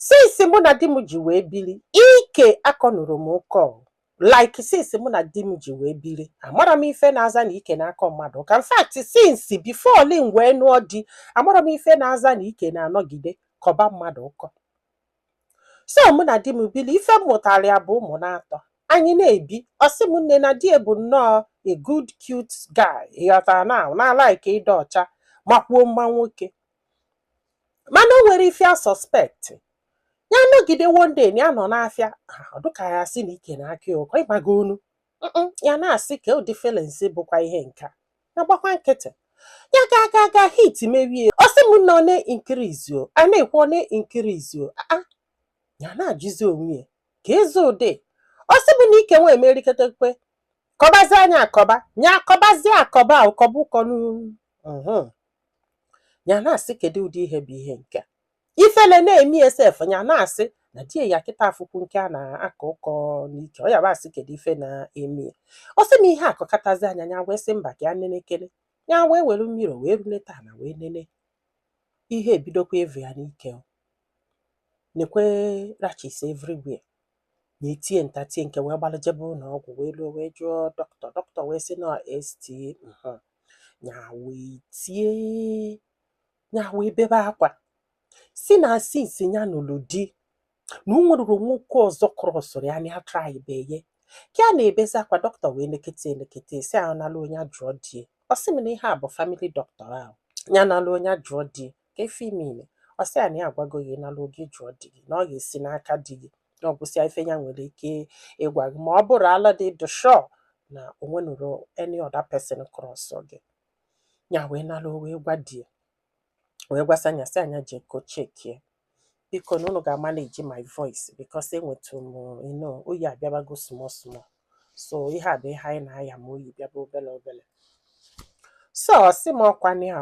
since mụ na di m ji wee biri ike akọnurọ m ụkọ like since mụ na di m ji wee biri amarọ m ife na-aza na ike na-akọ mmadụ ụkọ in fact since before m wee nụọ di amarọ m ife na-aza na ike na-anọgide kọba mmadụ ụkọ so mụ na di m biri ife m mụtara ya bụ ụmụ naatọ anyị na-ebi ọ sị m nne na di e bụ nnọọ a good cute guy ị ghọtara na na-alike ịdị ọcha makwuo mma nwoke mana o nwere ife a suspect ya nọgide one day na ya nọ n'afịa ọ dịka ya sị na ike na-akọ ụkọ ịgbago onu Mm-mm, ya na-asị kee ụdị feelings bụkwa ihe nke a ya gbakwa nkịtị ya ga aga aga heat mewe ya ọ sị m na ọ na-increase o a na-ekwu ọ na-increase o aa ya na-ajụzi onwe ya keezi ụdị ọ sị m na ike nwa emeriketekwe kọbazia nya akọba nya akọbazi akọba ụkọba ụkọ n'u- mhm. ya na-asị kedu ụdị ihe bụ ihe nke a ifele na-emie sef ya na-asị na di ya kịta afụkwu nke a na-akọ ụkọ n'ike ọ ya bụ asị kedu ife na-eme ya ọ sị m ihe akọkatazia nya ya wee sị mba ka ya nenekele ya wee were mirror wee rulata ana wee nene ihe ebidokwa evu ya n'ike nekwe rashes everywhere nya etie nta tie nke wee gbalụ jebe ụlọ ọgwụ wee ruo wee jụọ dọkịta dọkịta wee sị na ST ya wee tie ya wee bebe akwa sị na since ya nụlụ di na o nwenurọ nwoke ọzọ crossụrụ ya nya atrybeghị ka ya na-ebezi akwa dọkịta wee nekete nekete sị ya naluo nya jụọ di ọ sị m na ihe a bụ family doctor ha ya naluo nya jụọ di kee ife ime ile ọ sị ya na ya agwago gị naluo gị jụọ di gị na ọ ga-esi n'aka di gị na ọ gwụsịa ife ya nwere ike ịgwa gị ma ọ bụrụ na ị dị sure na o nwenurọ any other person cross gị ya wee naluo wee gwa di ya wee gwasịa nya sị nya jee ka e checkie biko na unu ga-amanage my voice because enwetụ m you know oyi abịabago small small so ihe a bụ ihe anyị na-aya ma oyi bịaba obele obele so ọ sị m ọkwa n'iha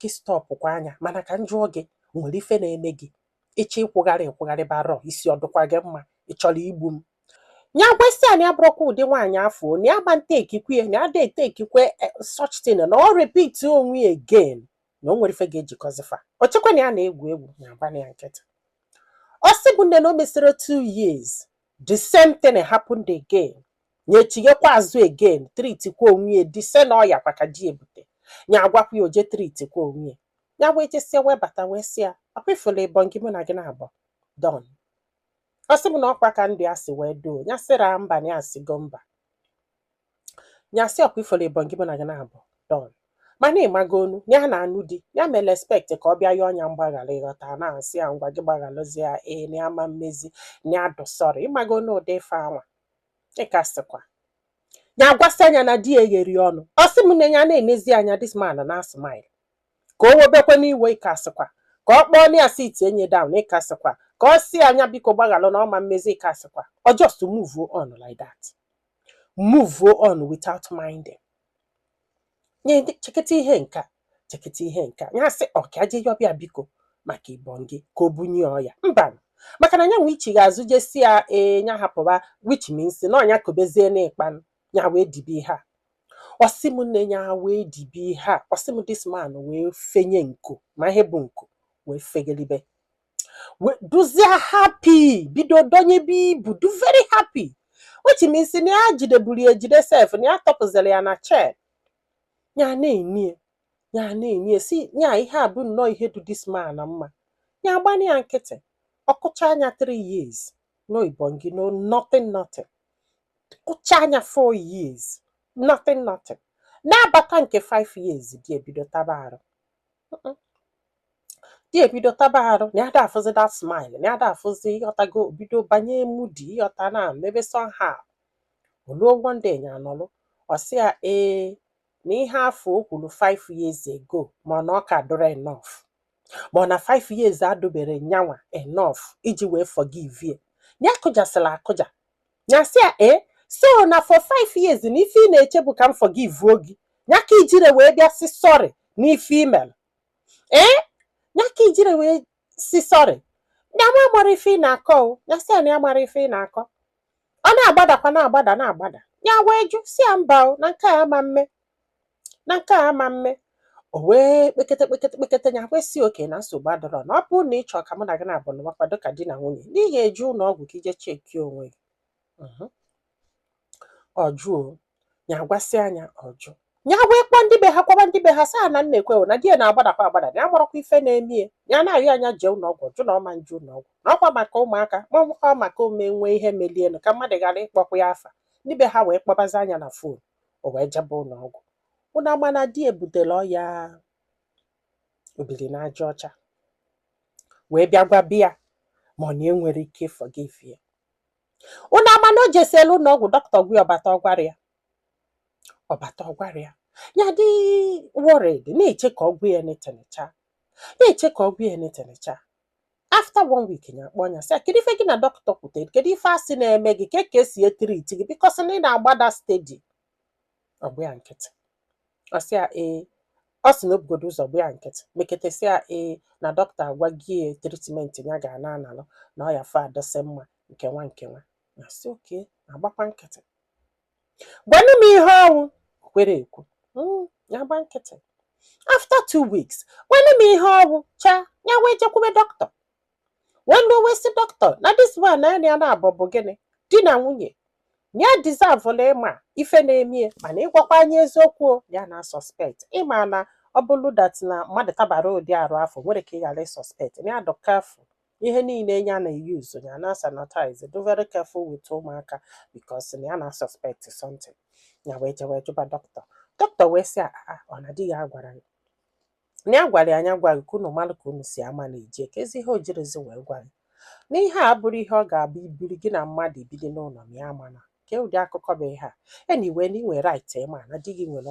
gị stopkwa nya mana ka m jụọ gị o nwere ife na-eme gị ị chọ ịkwụgharị ịkwụgharị abarọ isi ọ dịkwa gị mma ị chọrọ igbu m nya gwasịa na ya abụrọkwa ụdị nwaanyị afụ na ya ma na-etakekwe ya na ya ada etakekwe eh, such thing na ọ repeat onwe ya again na o nwerọ ife ga-ejikọzi fa o chekwa na ya na-egwu egwu nya agba nya nkịtị ọ sị m nne na o mesịrị two years the same thing happened again ya echighakwa azụ again treatkwa onwe ya the same ọya kwa ka di e bute ya agwakwa ya o jee treatkwa onwe ya ya wee jesịa wee bata wee sị ya ọkwa ị fụlụ ị bụ gị mụ na gị naabọ done ọ sị m na ọkwa ka ndị a si wee doo ya sịra mba na ya sigo mba nya sị ọkwa ịfụlụ ibongi mụ na gị na-abọ done mana ịmago onu ya na-anụ di ya mere expect ka ọ bịa yọọ nya mgbaghara ịghọta na-asị ya ngwa gị gbagharụzi ya ee na ya ama emezi na ya dụ sorry ịmago na ụdị ife anwa ịka sịkwa ya gwasịa nya na di ya egheri ọnụ ọ sị m na ya na-enezi anya this man na smile ka o webekwe n'iwe ịka sịkwa ka ọ kpọọ nya sitie nya down ịka sịkwa ka ọ sị nya biko gbaghalụ na ọ ma emezi ịka sịkwa ọ just move on like that move on without minding nye ndị- cheketa ihe nke a cheketa ihe nke a ya sị ọ ka je yọba ya biko maka ibongi ka o bunye ọya mba maka na nyanwa ichigha azụ je sị ya ee nya hapụba which means na ọ nya kobezie n'ịkpanụ ya wee dibe ihe a ọ sị m nne ya wee dibe ihe a ọ sị m this man wee fenye nku ma ihe bụ nku wee fegelibe dụzie happy bido donyebe ibu dụ very happy which means na ya jideburu ya ejide sef na ya tọpụziri ya na chain ya na-ene ya na-ene sị ya ihe a bụ nnọọ ihe dụ this man mma ya agbana ya nkịtị ọ kụcha anya 3 years no ibongi no nothing nothing kụcha anya 4 years nothing nothing na-abata nke 5 years di ebido taba arụ di ebido taba arụ na ya da afụzi that smile na ya da afụzi ịghọtago bido banye moody ịghọta na mebe somehow o luo one day ya anọlụ ọ sị ya ee na ihe afụ o kwuru 5 years ago ma ọ na ọ kadụrọ enough ma ọ na 5 years adụbere nyanwa enough iji wee forgive ya ya kụjasịla akụja ya sị ya ee so na for 5 years na ife ị na-eche bụ ka m forgive gị ya ka i jiri wee bịa sị sorry na ife i mel ee ya ka i jiri wee sị sorry nyanwa amara ife ị na-akọ o ya sị ya na ya amara ife ị na-akọ ọ na-agbadakwa na-agbada na-agbada ya wee jụ sị ya mba o na nke a ama mme na nke a ama mme o wee kpekete kpekete kpekete ya wee sị okay na nsogbu adụrọ na ọ bụrụ na ị chọọ ka mụ na gị na-abụ na makwado ka di na nwunye na ị ga-eje ụlọ ọgwụ ka i je check onwe gị Mhm. ọ jụọ ya agwasịa nya ọ jụ ya wee kpọọ ndị be ha gwaba ndị be ha sị ha na nekwe o na di ya na-agbadakwa agbada na ya amarọkwa ife na-eme ya ya na-arịọ nya jee ụlọ ọgwụ jụ na ọ ma eje ụlọ ọgwụ na ọkwa maka ụmụaka ma ọ bụkwa maka o mee nwee ihe melienụ ka mmadụ ghara ịkpọkwa ya afa ndị be ha wee kpọbazie nya na phone o wee jebe ụlọ ọgwụ ụnụ ama na di ebutela ọya obiri n'aja ọcha wee bịa gwaba ya ma ọ nya enwere ike forgive ya unu ama na o jesiela ụlọ ọgwụ dọkịta agwa ya ọ bata ọ gwarọ ya ọ bata ọ gwarọ ya ya dị worried na-eche ka ọ gwa ya netenecha na-eche ka ọ gwa ya netenecha after one week ya akpọ ya sị ya kedu ife gị na dọkịta kwutere kedu ife a sị na-eme gị kee ka e si e-treat gị because na ị na-agbada steady ọ gba ya nkịtị ọ sị ya ee ọ sị na o bugodo ụzọ gba ya nkịtị mekete sị ya ee na dọkịta agwago ya treatment ya ga na-analụ na ọ ya fa adọsị mma nke nwa nke nwanyị sị okay agbakwa nkịtị gwanụ m ihe ọ wụ o kwerọ ekwu mm ya gba nkịtị after two weeks gwanụ m ihe ọ wụ cha ya wee jekwube dọkịta nwanne o wee sị dọkịta na this man na ya na-abụ bụ gịnị di na nwunye ya deserve ịma ife na-emie mana ịgwakwa anyị eziokwu o, ya na suspect ị ma na ọ bụrụ that na mmadụ tabara ụdị arụ afụ o nwerọ ka ị ghara ịsuspect na ya dị careful ihe niile ya na-use ya na sanitize dị very careful with ụmụaka because na ya na suspect something ya wee jewe jụba dọkịta dọkịta wee sị a ọ na di ya gwara ya na ya gwara ya na ya gwa gị ka unu mara ka unu si ama na-eje keezi ihe o jirọzi wee gwa gị na ihe a abụrọ ihe ọ ga-abụ ibiri gị na mmadụ ebiri n'ụlọ ma ya mana kee ụdị akụkọ bụ ihe a anyway na ị nwere right ịma na di gị nwere